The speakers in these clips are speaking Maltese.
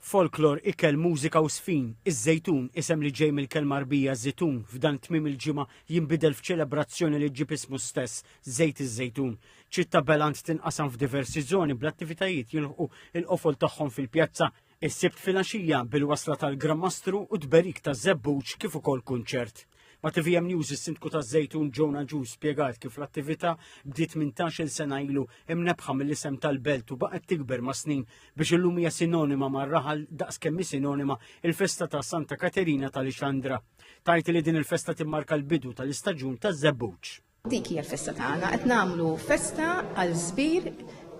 Folklor, ikel, mużika u żfin, iż-Żejtun, isem li ġej mill-kelma Għarbija żitun, f'dan tmiem il-ġimgħa jinbidel f'ċelebrazzjoni li ġġib ismu stess, Żejt iż-Żejtun. Ċittà Beland tinqasam f'diversi żoni bl-attivitajiet jilħqu l-qofol tagħhom fil-pjazza is-Sibt filgħaxija bil-wasla tal-Gran Mastru u tberik taż-Żebbuġ kif ukoll kunċert. Ma' TVM News is-Sindku ta' Zejtun Ġona Ġu spjegat kif l-attività bdiet minn tax-il sena ilu imnebħa mill-isem tal-belt u baqgħet tikber ma' snin biex illum hija sinonima ma' raħal daqs kemm hi sinonima il-festa ta' Santa Katerina tal-Ixandra. Tajt li din il-festa timmarka l-bidu tal-istaġun taż-żebbuġ. Dik hija l-festa tagħna, qed nagħmlu festa għal żbir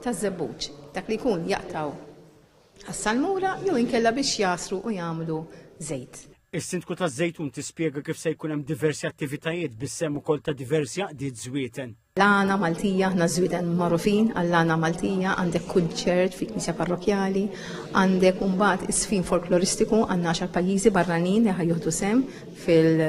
ta' żebbuġ, dak li jkun jaqtgħu għas-salmura jew inkella biex jagħsru u jagħmlu żejt. Is-Sindku taż-Żejtun tispjega kif se jkun hemm diversi attivitajiet bis-sehem ukoll ta' diversi għaqdiet żwieten. L-għana Maltija, aħna żwieden magħrufin għall-għana Maltija, għandek kunċert fi knisja parrokjali, għandek mbagħad isfin folkloristiku għandna għaxar pajjiżi barranin li ħajjuħdu sem fil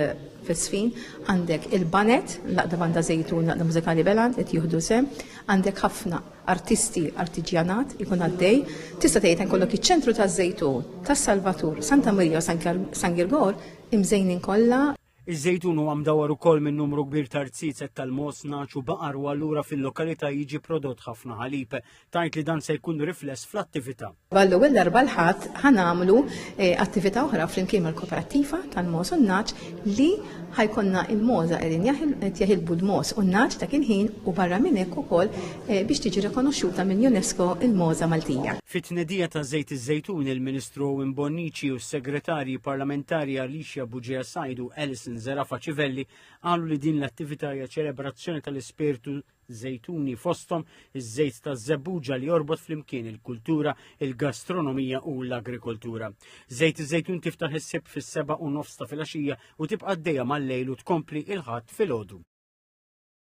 Fis-sfin għandek il-baned, l-Għaqda Banda Żejtun, l-Għaqda Mużikali Belan qed jieħdu sehem, għandek ħafna artisti, artiġjanat ikun għaddej. Tista' tgħid hemm kollok iċ-Ċentru taż-Żejtun, tas-Salvatur, Santa Marija u San Girgor imżejnin kollha. Iż-Żejtun huwa mdawwar ukoll minn numru kbir ta' rziezet tal-mogħoż, nagħaġ u baqar u allura fil-lokalità jiġi prodott ħafna ħalib. Tgħid li dan se jkun rifless fl-attività. Għall-ewwel darba l-Ħadd ħa nagħmlu attività oħra flimkien mal-Koperattiva tal-Mogħoż u n-Nagħaġ li ħa jkollna l-mogħoża qegħdin qed jeħilbu l-mogħoż u n-nagħaġ dak il-ħin u barra minn hekk ukoll biex tiġi rikonoxxuta mill-UNESCO l-mogħoża Maltija. Fit-tnedija ta' Żejt iż-Żejtun il-Ministru Owen Bonnici u s-Segretarji Parlamentari Alicia Buġea Said u Alison Zerafa Civelli qalu li din l-attività hija ċelebrazzjoni tal-ispirtu żejtuni fosthom iż-żejt taż-żebbuġa li jorbot flimkien il-kultura, il-gastronomija u l-agrikoltura. Żejt iż-żejtun tiftaħ is-sib fis-seba' u nofs ta' filgħaxija u tibqa' għaddejja mal-lejl u tkompli il-Ħadd filgħodu.